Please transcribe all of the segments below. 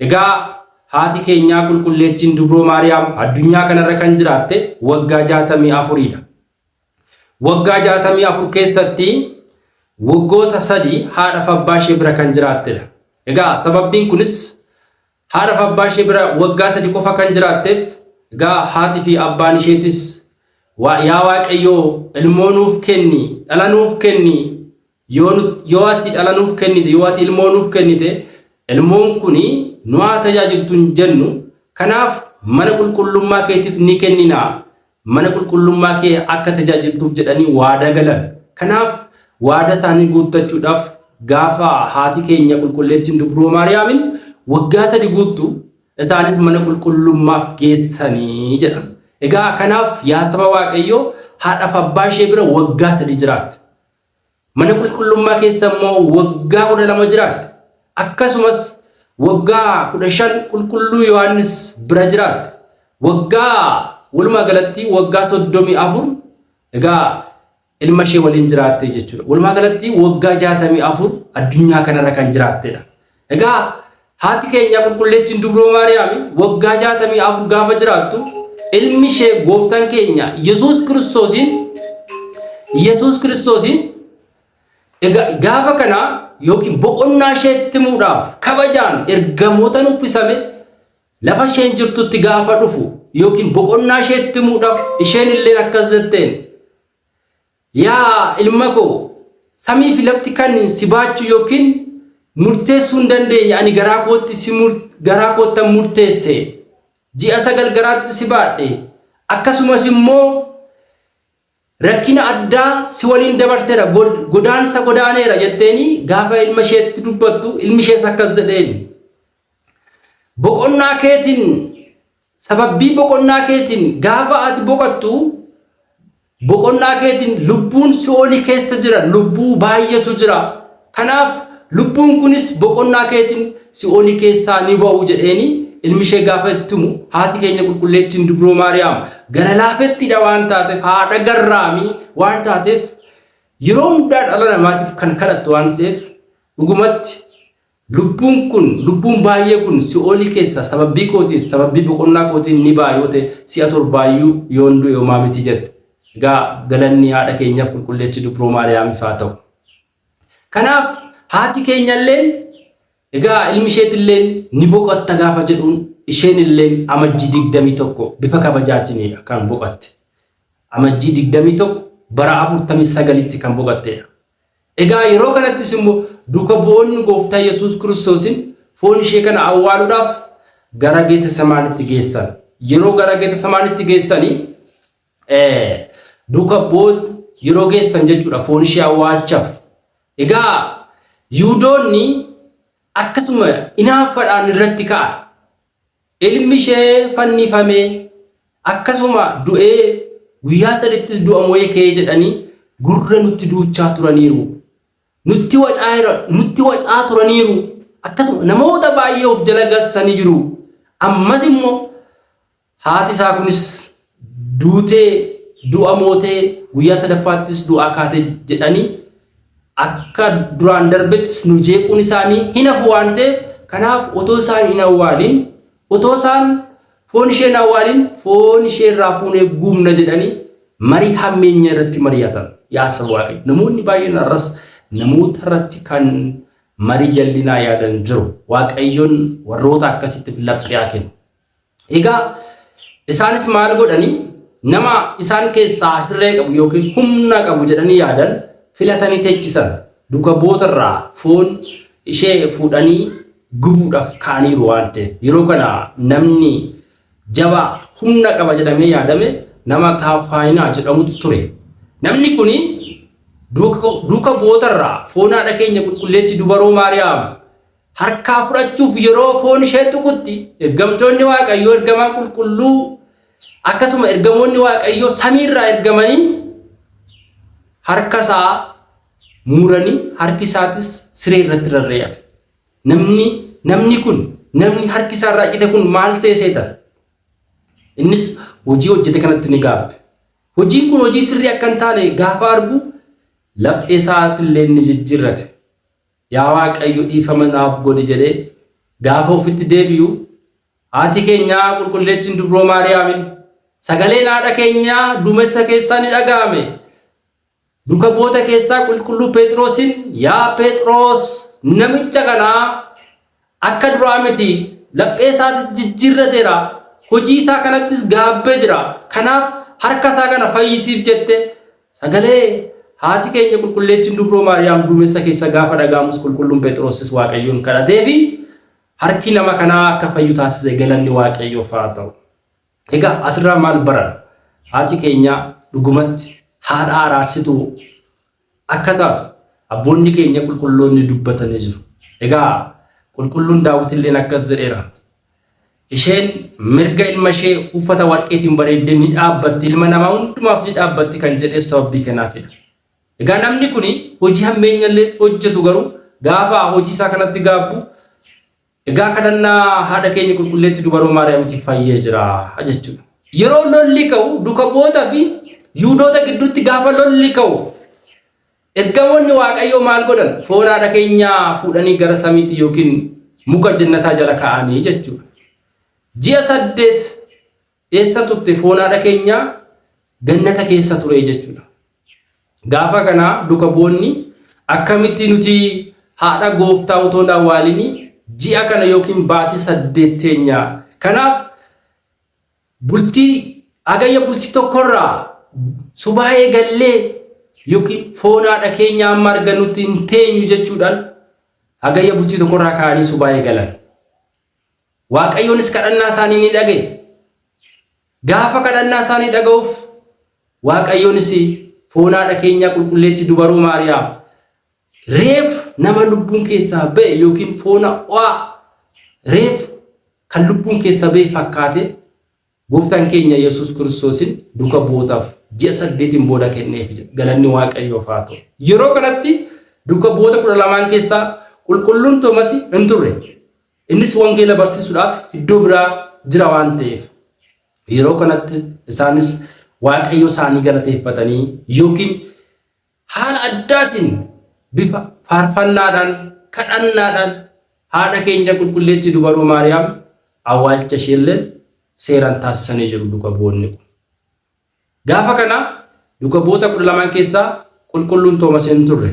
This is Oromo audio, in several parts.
Egaa haati keenyaa Qulqulleettiin Dubroo Maariyaam addunyaa kanarra kan jiraatte waggaa 64 dha. Waggaa 64 keessatti waggoota sadii haadha fi abbaa ishee bira kan jiraatte dha. Egaa sababbiin kunis haadha fi abbaa ishee bira waggaa sadii qofa kan jiraatteef egaa haati fi abbaan isheetis yaa waaqayyoo ilmoo nuuf kenni dhala nuuf kenni Yoo nu- yoo ati dhala nuuf kennite, yoo ati ilmoo nuuf kennite, ilmoon kuni nu haa tajaajiltu hin jennu. Kanaaf mana qulqullummaa keetiif ni kennina. Mana qulqullummaa kee akka tajaajiltuuf jedhanii waadaa galan. Kanaaf waadaa isaanii guuttachuudhaaf gaafa haati keenya qulqulleettiin dubroo Maariyaamin waggaa sadi guuttu isaanis mana qulqullummaaf geessanii jedha. Egaa kanaaf yaa saba Waaqayyoo haadhaaf abbaa ishee bira waggaa sadi jiraatte. Mana qulqullummaa keessa immoo waggaa kudha lama jiraatte. Akkasumas waggaa kudha shan qulqulluu Yohaannis bira jiraatte. Waggaa walumaa galatti waggaa soddomii afur egaa ilma ishee waliin jiraatte jechuudha. Walumaa galatti waggaa jaatamii afur addunyaa kanarra kan jiraattedha. Egaa haati keenya qulqulleettiin dubroo Maariyaami waggaa 64 gaafa jiraattu ilmi ishee gooftaan keenya Yesuus Kiristoosiin Yesuus Kiristoosiin egaa gaafa kana yookiin boqonnaa isheetti muudhaaf kabajaan ergamootan uffisame lafa isheen jirtutti gaafa dhufu yookiin boqonnaa isheetti muudhaaf isheen illee akkas jetteen Yaa ilma koo! Samii fi lafti kan si baachuu yookiin murteessuu hin dandeenye ani garaa kootti si garaa koottan murteesse. Ji'a sagal garaatti si baadhe. Akkasumas immoo rakkina addaa si waliin dabarseera, godaansa godaaneera jetteeni gaafa ilma isheetti dubbattu ilmi ishees akkas jedheen. Boqonnaa keetiin Sababbii boqonnaa keetiin gaafa ati boqattu boqonnaa keetiin lubbuun si'oolii keessa jiran lubbuu baay'eetu jira. Kanaaf lubbuun kunis boqonnaa keetiin si'oolii keessaa ni ba'u jedheeni ilmi ishee gaafa itti himu haati keenya qulqulleettiin dubroo maariyaam gara laafettiidha waan taateef haadha garraamii waan taateef yeroo hundaa dhala namaatiif kan kadhattu waan ta'eef dhugumatti Lubbuun kun, lubbuun baay'ee kun si'oolii keessaa sababbii kootiif, sababbii boqonnaa kootiin ni ba'a yoo ta'e, si'a torbaa iyyuu yoon du'e homaa miti jette. Egaa galanni haadha keenyaf Qulqulleetti Dubroo Maariyaamif haa ta'u. Kanaaf haati keenyalleen egaa ilmi isheetilleen ni boqotta gaafa jedhuun isheenilleen Amajjii 21 bifa kabajaatiinidha kan boqatte. Amajjii 21 bara 49tti kan boqatteedha. Egaa yeroo kanattis immoo duuka bu'oonni Gooftaa Yesuus Kiristoosin foon ishee kana awwaaluudhaaf gara Geetasamaanitti geessan. Yeroo gara Geetasamaanitti geessanii duuka bu'oot yeroo geessan jechuudha foon ishee awwaalchaf. Egaa Yihudoonni akkasuma inaaffaadhaan irratti ka'an. Ilmi ishee fannifamee, akkasuma du'ee guyyaa sadittis du'a mo'ee ka'ee jedhanii gurra nutti duuchaa turaniiru. Nutti wacaaira, nutti wacaa turaniiru. Akkasuma namoota baay'ee of jala galsanii jiru. Ammas immoo haati isaa kunis Duutee, du'a mootee, guyyaa sadaffaattis du'aa kaate jedhanii akka duraan darbettis nu jeequun isaanii hin hafu waan ta'eef kanaaf otoo isaan hin awwaalin otoo isaan foon ishee hin awwaalin foon ishee irraa fuunee guubna jedhanii marii hammeenya irratti mari'atan yaa saba waaqayyo namoonni baay'een har'as namoota irratti kan marii jallinaa yaadan jiru waaqayyoon warroota akkasitti laphee haa kennu. Egaa isaanis maal godhani nama isaan keessaa hirree qabu yookiin humna qabu jedhanii yaadan filatanii teechisan duka bootarraa foon ishee fuudhanii gubuudhaaf kaaniiru waan ta'eef yeroo kana namni jaba humna qaba jedhamee yaadame nama kaafaayinaa jedhamutu ture. Namni kun duka bootarraa foon haadha keenya qulqulleetti dubaroo Maariyaam harkaa fudhachuuf yeroo foon ishee tuqutti ergamtoonni Waaqayyoo ergamaan qulqulluu akkasuma ergamoonni Waaqayyoo samii irraa ergamanii harka isaa muranii harki isaatis siree irratti rarra'ee hafe. Namni namni kun namni harki isaa irraa cite kun maal ta'e seeta? Innis hojii hojjete kanatti ni gaabbe. Hojiin kun hojii sirrii akka hin taane gaafa argu laphee isaatti illee ni jijjiirrate. Yaa Waaqayyo dhiifama naaf godhi jedhee gaafa ofitti deebi'u, haati keenya qulqulleettiin dubroo Maariyaamin sagaleen haadha keenyaa duumessa keessaa ni dhaga'ame. Duka bu'oota keessaa qulqulluu Pheexiroosin yaa Pheexiroos namicha kanaa Akka duraa miti, laphee isaatis jijjiirrateera, hojii isaa kanattis gaabbee jira, kanaaf harka isaa kana fayyisiif jette. Sagalee haati keenya Qulqulleettiin Dubroo Maariyaam duumessa keessa gaafa dhaga'amus Qulqulluun Pheexiroosis Waaqayyoon kadhateefi harki nama kanaa akka fayyu taasise galanni Waaqayyoof haa ta'u. Egaa asirraa maal baranna? Haati keenya dhugumatti haadha araarsituu, akka taatu abboonni keenya qulqulloonni dubbatanii jiru. Egaa Qulqulluun Daawitilleen akkas jedheera, Isheen mirga ilma ishee uffata warqeetiin bareeddee ni dhaabbatti, ilma namaa hundumaaf ni dhaabbatti kan jedheef sababii kanaafidha. Egaa namni kun hojii hammeenyallee hojjetu garuu gaafa hojii isaa kanatti gaabbu Egaa kadhannaa haadha keenya qulqulleetti dubaroo Maariyaamitti fayyee jira jechuudha. Yeroo lolli ka'u duka bu'ootaa fi Yihudoota gidduutti gaafa lolli ka'u ergamoonni Waaqayyoo maal godhan? Foon haadha keenyaa fuudhanii gara samiitti yookiin muka jennataa jala kaa'anii jechuudha. Ji'a saddeet Eessa turte foon haadha keenyaa gannata keessa ture jechuudha. Gaafa kana duka bu'onni akkamitti nuti haadha gooftaa otoo hin awwaalini ji'a kana yookiin baatii saddeet teenya. Kanaaf bultii agayya bultii tokkorraa subaa eegallee yookiin foon haadha keenyaa amma arganutti hin teenyu jechuudhaan agayya bultii tokkorraa ka'anii subaa eegalan. Waaqayyoonis kadhannaa isaanii ni dhaga'e. Gaafa kadhannaa isaanii dhaga'uuf Waaqayyoonis foon haadha keenyaa qulqulleetti dubaroo Maariyaam reef nama lubbuun keessaa ba'e yookiin foona o'aa reef kan lubbuun keessaa ba'e fakkaate Gooftaan keenya Yesuus Kiristoosin duka bu'ootaaf ji'a saddeetiin booda kenneef. Galanni Waaqayyoof haa ta'u. Yeroo kanatti duka bu'oota kudha lamaan keessaa qulqulluun Toomasi hin turre. Innis wangeela barsiisuudhaaf iddoo biraa jira waan ta'eef. Yeroo kanatti isaanis Waaqayyo isaanii galateeffatanii yookiin Haala addaatiin bifa faarfannaadhaan, kadhannaadhaan haadha keenya Qulqulleettii Dubaroo Maariyaam awwaalcha isheellee seeraan taasisanii jiru duka bu'oonni kun. Gaafa kana duka bu'oota kudha lamaan keessaa Qulqulluun Toomas hin turre.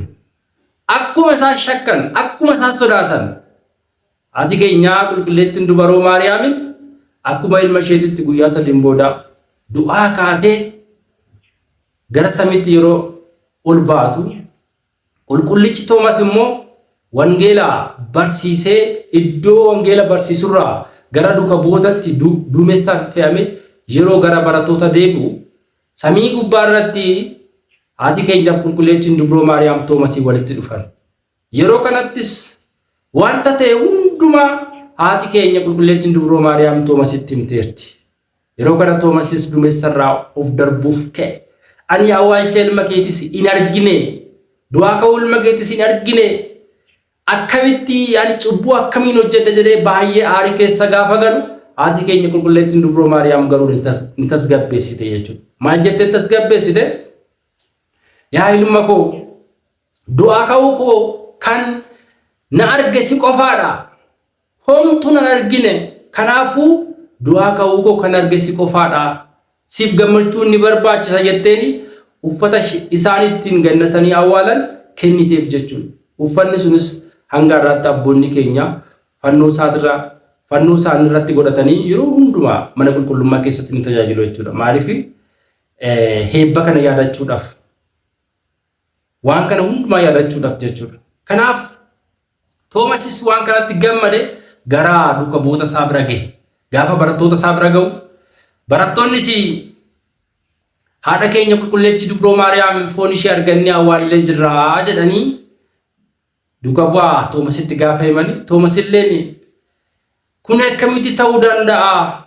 Akkuma isaan shakkan, akkuma isaan sodaatan Haati keenya qulqulleettiin dubaroo Maariyaamin akkuma ilma isheetitti guyyaa sadiin booda du'aa kaatee gara samiitti yeroo ol baatu qulqullichi Toomas immoo wangeela barsiisee iddoo wangeela barsiisurraa gara duka bu'ootatti duumessaan fe'ame yeroo gara barattoota deebi'u samii gubbaa irratti haati keenyaaf qulqulleettiin dubroo Maariyaam Toomasii walitti dhufan. Yeroo kanattis wanta ta'e hundumaa haati keenya qulqulleettiin dubroo Maariyaam Toomasitti himteerti. Yeroo kana Toomasis duumessarraa of darbuuf ka'e. Ani awwaalcha ilma keetis hin argine, du'aa ka'uu ilma keetis hin argine, akkamitti ani cubbuu akkamiin hojjedha jedhee baay'ee aarii keessa gaafa galu haati keenya qulqulleettiin dubroo Maariyaam garuu ni tas- ni tasgabbeessite jechuudha. Maal jettee tasgabbeessite? Yaa ilma koo Du'aa ka'uu koo kan na arge si qofaa dha. Homtuu nan argine, kanaafuu du'aa ka'uu koo kan arge si qofaa dha. Siif gammachuun ni barbaachisa jetteen uffata isaan ittiin gannasanii awwaalan kenniteef jechuun. Uffanni sunis hanga har'aatti abboonni keenya fannoo isaatirra fannoo isaanii irratti godhatanii yeroo hundumaa mana qulqullummaa keessatti ni tajaajilu jechuudha. Maaliif heebba kana yaadachuudhaaf. Waan kana hundumaa yaadachuudhaaf jechuudha. Kanaaf Toomasis waan kanatti gammade gara duuka bu'oota isaa bira gahe. Gaafa barattoota isaa bira gahu barattoonnis haadha keenya qulqulleettii dubroo Maariyaam foon ishee argannee awwaallee jirraa jedhanii duuka bu'aa Toomasitti gaafa himani. Toomas illeen kun akkamitti ta'uu danda'a?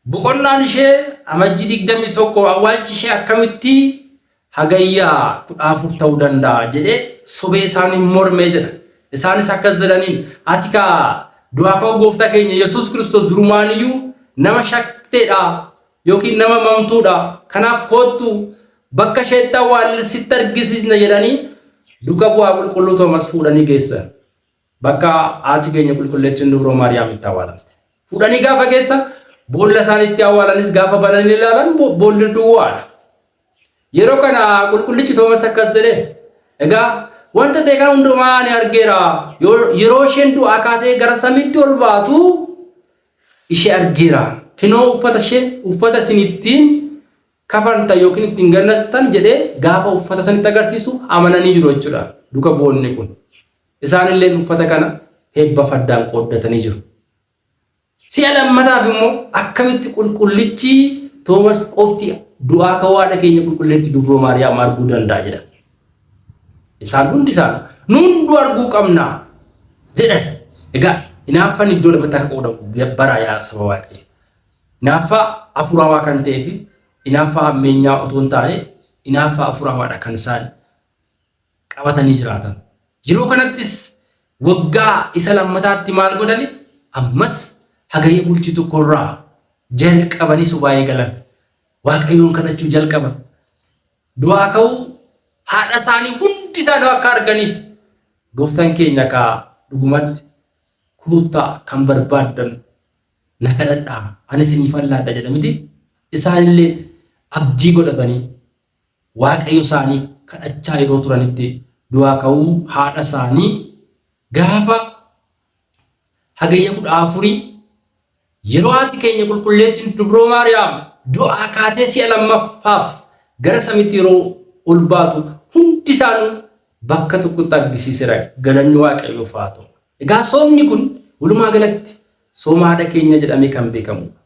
Boqonnaan ishee Amajji 21 awwaalchi ishee akkamitti Hagayya 14 ta'uu danda'a jedhee sobee isaaniin mormee jedha. Isaanis akkas jedhaniin ati kaa du'aa ka'uu gooftaa keenya Yesuus Kiristoos durumaaniyyuu nama shakteedha yookiin nama mamtuudha. Kanaaf koottu bakka isheetti awwaalle sitti argisiisna jedhanii duka bu'aa qulqulluu Toomas fuudhanii geessan. Bakka haati keenya qulqulleettiin Dubroo Maariyaam itti awwaalamte. Fuudhanii gaafa geessan boolla isaan itti awwaalanis gaafa bananii ilaalan boolli duwwaadha. Yeroo kana qulqullichi Toomas akkas jedhe egaa wanta ta'e kana hundumaa ani argeera yeroo isheen du'aa kaatee gara samiitti ol baatu ishee argeera kinoo uffata ishee uffata isin ittiin kafanta yookiin ittiin gannastan jedhee gaafa uffata sanitti agarsiisu amananii jiru jechuudha duka bu'oonni kun. Isaan illeen uffata kana hebba faddaan qooddatanii jiru. Si'a lammataaf immoo akkamitti qulqullichi Toomas qofti du'aa ka'uu haadha keenya qulqulleetti dubroo Maariyaam arguu danda'a jedhan. Isaan hundi isaan nu hunduu arguu qabna jedhan. Egaa hinaaffaan iddoo lamatti akka qoodamu baraa yaa saba waaqayyo. Hinaaffaa hafuurawaa kan ta'ee fi hinaaffaa hammeenyaa otoo hin taane hinaaffaa hafuurawaadha kan isaan qabatanii jiraatan. Yeroo kanattis waggaa isa lammataatti maal godhani? Ammas hagayya bultii tokkorraa jalqabanii subaayee galan. Waaqayyoon kadhachuu jalqaban. Du'aa ka'uu haadha isaanii hundi isaanii akka arganiif gooftaan keenya kaa dhugumatti kuuttaa kan barbaaddan na kadhadhaa ani isiniif allaadha jedha miti isaanillee abdii godhatanii Waaqayyo isaanii kadhachaa yeroo turanitti du'aa ka'uu haadha isaanii gaafa Hagayya 14 yeroo haati keenya qulqulleettiin Dubroo Maariyaam du'aa kaatee si'a lammaffaaf gara samitti yeroo ol baatu hundi isaanii bakka tokkotti argisiisera galanni waaqayyoof haa ta'u. Egaa soomni kun walumaa galatti sooma haadha keenya jedhamee kan beekamudha.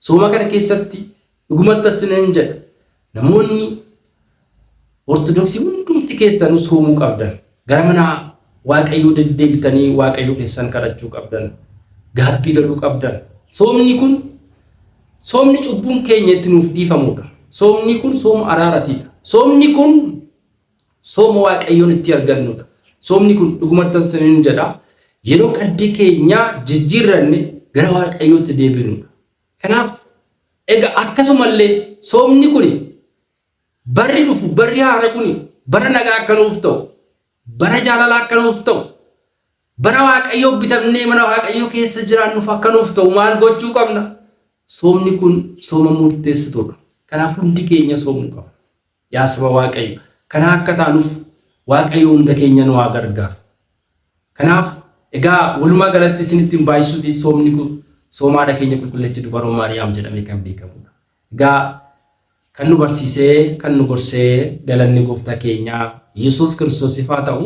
Sooma kana keessatti Dhugumatti isiniin jedha, namoonni Ortodoksii hundumti keessanuu soomuu qabdan. Gara mana Waaqayyoo deddeebitanii Waaqayyo keessan kadhachuu qabdan. Gaabbii galuu qabdan. Soomni kun soomni cubbuun keenya itti nuuf dhiifamudha. Soomni kun sooma araaratiidha. Soomni kun sooma Waaqayyoon itti argannudha. Soomni kun dhugumatti isiniin jedha yeroo qaddii keenyaa jijjiirranne gara Waaqayyootti deebinudha. Kanaaf egaa akkasumallee soomni kuni barri dhufu barri haara kuni bara nagaa akka nuuf ta'u bara jaalalaa akka nuuf ta'u bara waaqayyoo bitamnee mana waaqayyoo keessa jiraannuuf akka nuuf ta'u maal gochuu qabna soomni kun sooma murteessituudha kanaaf hundi keenya soomuu qabna Yaa saba Waaqayyo kanaa akka taanuf Waaqayyo hunda keenya nu haa gargaaru. Kanaaf egaa walumaa galatti isinitti hin baay'isuti soomni kun sooma haadha keenya qulqulleetti dubaroo Maariyaam jedhamee kan beekamudha. Egaa kan nu barsiisee kan nu gorsee galanni gooftaa keenyaa Yesuus Kiristoosiif haa ta'u.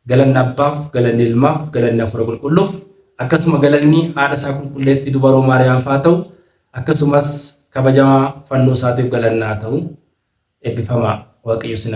Galanni Abbaaf, galanni Ilmaaf, galanni Hafuura Qulqulluuf, akkasuma galanni Haadha Isaa Qulqulleettii Dubaroo Maariyaamf haa ta'u, akkasumas kabajamaa Fannoo Isaatiif galanni haa ta'u. Eebbifamaa! Waaqayyo isin